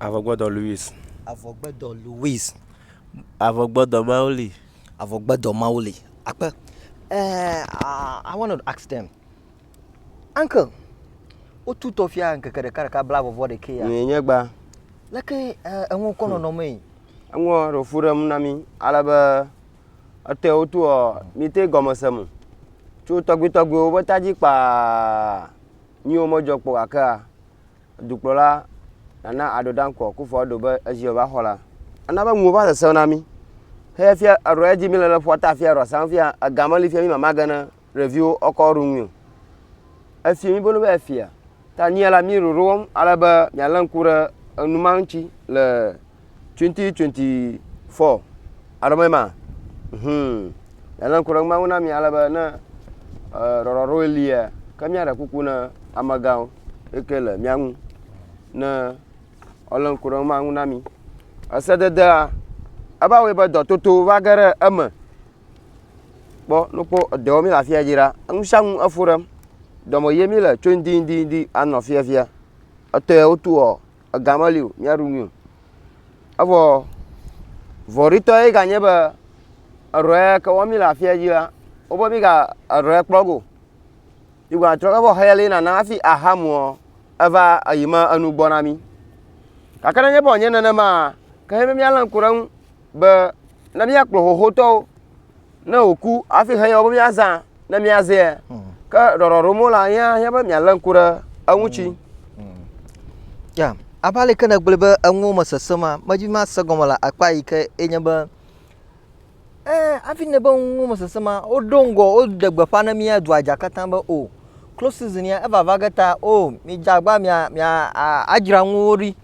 Avɔgbedɔ Louis. Avɔgbedɔ Louis. Avɔgbedɔ Mauli. Avɔgbedɔ Mauli. Akpe. Uh, uh, I want to ask them. Uncle, wotu tɔfia ŋkeke ɖeka ɖeka bla vɔvɔ ɖekɛ ya. Nye nye gba. Leke eh, eŋu kɔ nɔnɔ mee. Eŋu ɖo fu ɖem na mi ale be etɔe wotu ɔ mi te gɔmese mu. Tso tɔgbi tɔgbiwo be tadzi kpaa nyiwo medzɔ kpɔ gakea Dukplɔla Nana Addo Dankwa Akufo Addo be ezi yeava xɔ la, ana be nuwo va sesẽ na mí. Heya fia eɖɔ edzi míle le ƒuata afia eɖɔ sam fia ega meli fia mí mamage ne ɖeviwo ɔkɔ ɖu nui o. Efia mí bolo be efia. Ta nyia la mí ɖoɖo wɔm ale be míalé ŋku ɖe enu ma ŋuti le 2024 alo me ma hmm ele ŋkɔ ɖe ŋu na mi ale be ne rɔrɔɖo lia ke míaɖe kuku na amegãwo eke le mía ŋu ne ele ŋkɔ ɖe ma ŋu na mi esededea eva wɔe be dɔtoto va ge ɖe eme kpɔ nokpɔ edɔ mi le afia dzi ɖa ŋu sia ŋu efo ɖem dɔme ye mi le tso ŋdi ŋdi ŋdi anɔ fiafia etɔe wotu ɔ ega meli o míaɖu nui o evɔ vɔɖitɔ ye ganye be eɖɔ ya ke wɔm míle afia dzi la wobe míga eɖɔ ya kplɔ go yigba trɔ evɔ xeya li nana hafi aha muɔ eva eyi me enu gbɔ na mí gake nenye be wònye nenema ke he be míalé ŋku ɖe eŋu be ne míakplɔ xoxotɔwo ne wòku hafi he yɔ be míazã ne míazea hmm. ke ɖɔɖɔ ɖom la yea hiã be mialé ŋku ɖe eŋuti hmm. hmm. ya abe aleke nègblɔe be enuwo me sese ma medi be mase gɔme le akpa yi ke enye be ee hafi ne be nuwo me sese ma woɖo ŋgɔ woɖe gbeƒã ne mía dua dza katã be o oh, close season ya evava ge ta o oh, midze agba mia mia adzra nuwo ɖi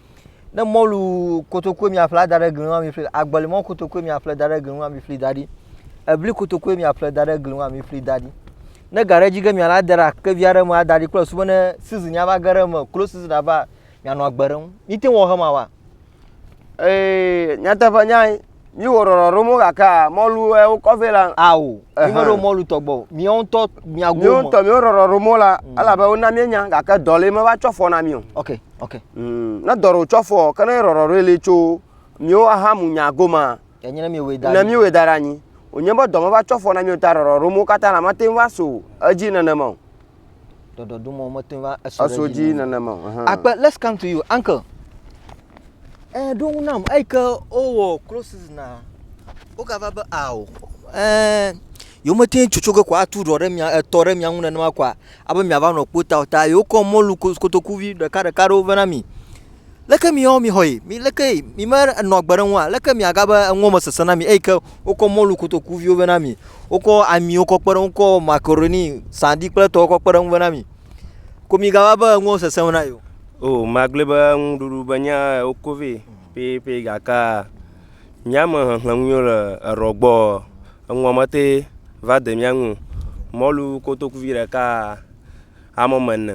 Ne mɔlu kotokoe miaƒle ada ɖe gli ŋu ami ƒli, agbelimɔ kotokoe miaƒle da ɖe gli ŋu ami ƒli da ɖi, ebli kotokoe miaƒle da ɖe gli ŋu ami ƒli da ɖi. Ne ga ɖe dzi ge miala ade ɖe akevi aɖe me ada ɖi kple susu be ne season ya va ge ɖe eme, close season ava, mianɔ agbe ɖe ŋu. Mite ŋu awɔ ema wa? Ee, nyateƒe nyae. mi wo rɔrɔ ɖo mo gaka mɔlu ɛ wo kɔfɛ la awo mi me ɖo mɔlu tɔgbɔ o mi wo ŋutɔ mia go mi wo ŋutɔ mi wo rɔrɔ ɖo mo la mm. elabe wo na mi nya gake dɔ le me va tsɔ fɔ na mi o ok ok mm, ne dɔ ɖo tsɔ fɔ ke ne rɔrɔ ɖo le tso mi wo aha mu nya go ma enye ne mi wo da ne mi wo da ɖe anyi o nye be dɔ me va tsɔ fɔ na mi o ta rɔrɔ ɖo mo katã la mate va so edzi nenema o Ɖɔɖɔɖumɔ mete va eso ɖe Eso dzi nenema. Akpe, let's come to you, uncle. Eh, ɖo ŋu nam, eyi ke wowɔ close season a, wogava be ao, eh, yewomete ŋu tsotso ge ko atu ɖɔ ɖe mia, etɔ ɖe mia ŋu nenema koa, abe miava nɔ kpo ta o ta yewokɔ mɔlu kotokuvi ɖekaɖeka ɖewo vɛ na mi. Leke miawo mixɔe? Mi leke mi me enɔ agbe ɖe ŋua? Leke mi aga be eŋuɔ me sese na mi eyi ke wokɔ mɔlu kotoku viwo vɛ na mi? Wokɔ amiwo kɔ kpe ɖe ŋu, wokɔ makaroni, saɖi kple etɔwo kɔ kpe ɖe ŋu vɛ na mi. Ko mi gava be eŋuɔ sese ŋu na yi o. O, magblɔe be nuɖuɖu be nya wokɔ vɛ pɛpɛ gake mía me xexlẽ ŋu yio le erɔ gbɔ eŋuɔ me te va de mía ŋu o. Mɔlu kotoku vi ɖeka ame ame ene.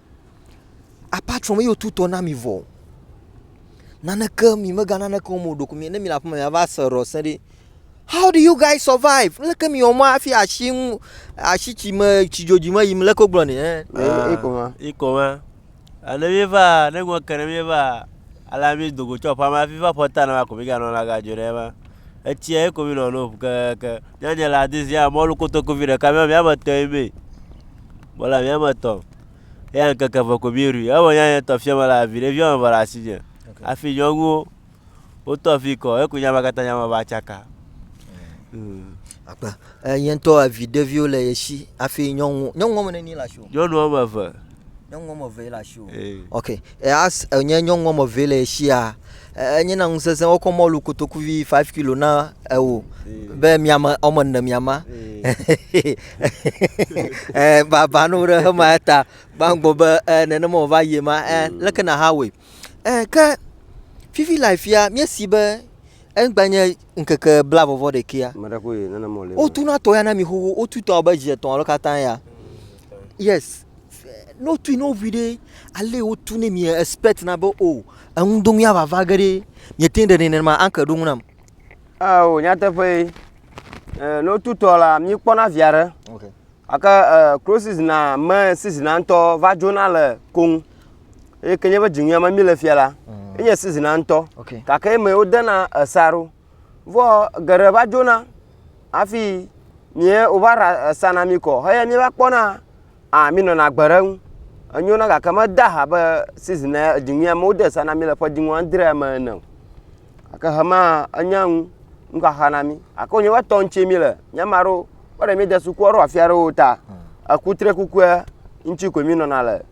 Aƒea tsrɔ̃ eye wotu tɔ na mi vɔ. Naneke mi mega naneke wɔm o ɖeko mi ne mi le aƒeme miava se ɖɔ se ɖe. How do you guys survive? Leke mi wɔm hafi asi ŋu asi tsi me tsi dzodzi me yim leke wogblɔ nɛ hɛ? Ah, Eko ma. Eko ma. Ah, Ne mi va, ne ŋua ke ne mi va, ale mi do go tso aƒea me hafi va aƒe ta na ma ko mi ga nɔ la ga dzo ɖe ema. Etsia ye ko mi nɔ nom kekeake. Nyanya le adizia mɔlu kotokuvi ɖeka mia mia me tɔe mee. Mele ame ame etɔ̃ me. Eya ŋkeke eve ko mí ɖui. Evɔ nyanya tɔ fiɔ me la viɖe viɔ me ve le asinye. Afi nyɔnuwo wotɔ fi kɔ eku nya ma katã nya ma va tsaka. Mm. Akpa. E ye ŋtɔ evi ɖeviwo le ye si afi nyɔnu nyɔnu wɔme neni le asiwò? Nyɔnu wɔme eve. Nyɔnu wɔme eve ye le asiwò. Ee. Ok. E as enye nyɔnu wɔme eve ye le ye sia enye na ŋu sesẽ wokɔ mɔlu kotoku vi five kilo na ewò be miame ɔme ne miama eh, baba no ɖe hema eta gbãgbɔ be eh, nenema wòva yie ma eh, mm. leke na ha wɔe eh, ke fifi le afia míesi be egbanye ŋkeke bla vɔvɔ ɖekea wotuna tɔ ya na mi xoxo wotutɔ abe zi etɔ̃ alo katã ya yes Ne wotui ne wo ŋui ɖe, ale wotu ne mìa expect na be o eŋu do mìava va ge ɖe mìete ɖe nɛ nenema anke ɖo ŋu nam. Ao nyateƒee. E ne wotu tɔ la mìkpɔna via ɖe. Okay. Ake e klo sizina me sizina ŋutɔ va dzona le koŋ. Eye ke nye be dziŋuia me mìle fia la, mm. enye sizina ŋutɔ. Okay. Gake eme wodena esa ɖo. vɔ geɖe va dzona hafi mìe wova ɖa esana mì kɔ heya mìva kpɔna a mìnɔna agbe ɖe eŋu enyona gake mede ha be season ya edziŋui ame wode sa na mì le ƒedziŋu adrea me ene o gake hema enya ŋu nuxaxa na mí gake wonye va tɔ ŋuti mí le nye ame aɖewo kpɔ ɖe mí de sukua ɖo afi aɖewo ta ekutrekukua ŋuti koe mí nɔna le.